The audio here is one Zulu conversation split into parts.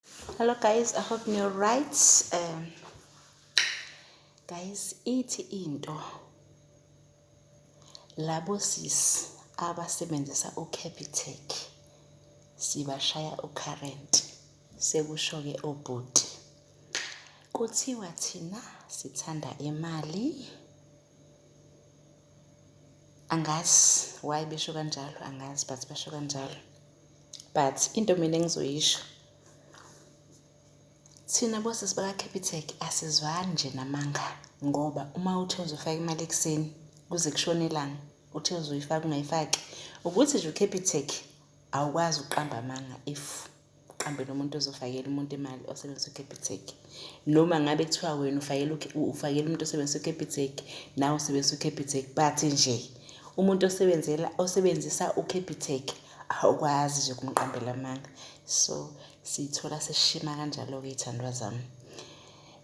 Hello guys, I hope you're right. Um, guys, ithi into labo sis abasebenzisa uCapitec sibashaya ucurrent sekusho-ke obhuti kuthiwa thina sithanda imali angazi why besho kanjalo angazi but basho kanjalo but into mina engizoyisho thina bosisi baka-capitec asizwani nje namanga ngoba uma uthe uzofaka imali ekuseni kuze kushone ilanga uthe uzoyifaka ungayifaki ukuthi nje u-capitec awukwazi ukuqamba amanga if uqambele umuntu ozofakela umuntu imali osebenzisa u-capitec noma ngabe kuthiwa wena ufakela ufakela umuntu osebenzisa uCapitec nawe usebenzisa uCapitec but nje umuntu osebenzela osebenzisa uCapitec awukwazi nje kumqambela amanga so siyithola seshima kanjalo-ke iy'thandwa zami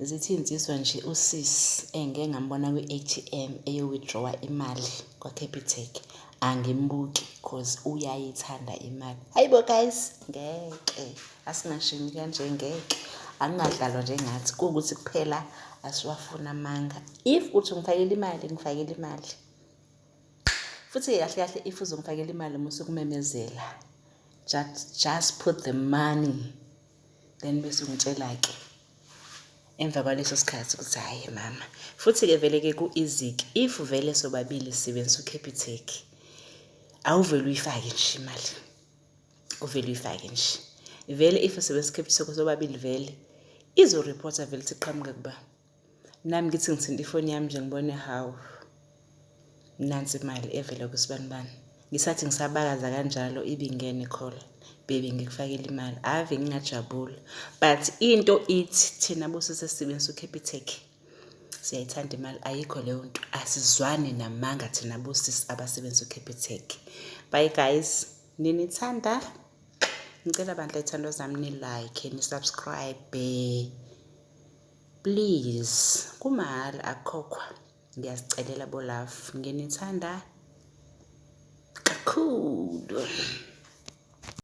zithi insizwa nje usis engike ngambona kwi-atm eyo-withdrawa imali kwa-capitec angimbuki cause uyayithanda imali hayi bo guys ngeke Asingashini kanje ngeke. Angingadlalwa nje ngathi kuwukuthi kuphela asiwafuna amanga. If uthi ungifakela imali, ngifakela imali. Futhi-ke kahle kahle if uzongifakela imali uma usukumemezela, just, just put the money then bese ungitshela-ke emva kwaleso sikhathi ukuthi hhayi mama futhi-ke vele-ke ku-easy-ke if vele sobabili sisebenzisa ucapitec awuvele uyifake nje imali uvele uyifake nje vele if sebescript sakho sobabili vele izoreporta vele ukuthi qhamuke kuba nami ngithi ngithinta ifoni yami nje ngibone hawu nansi imali evele kusibanibani ngisathi ngisabakaza kanjalo ibingene call baby ngikufakela imali ave ngingajabula but into ithi thina bosisi esisebenzisa ucapitec siyayithanda imali ayikho leyo nto asizwani namanga thina bosisi abasebenzisa ucapitec bye guys Nginithanda. Ngicela bandla ithando zami ni like ni subscribe. Please kumahhala akukhokhwa. Ngiyazicelela bo love. Nginithanda kakhulu.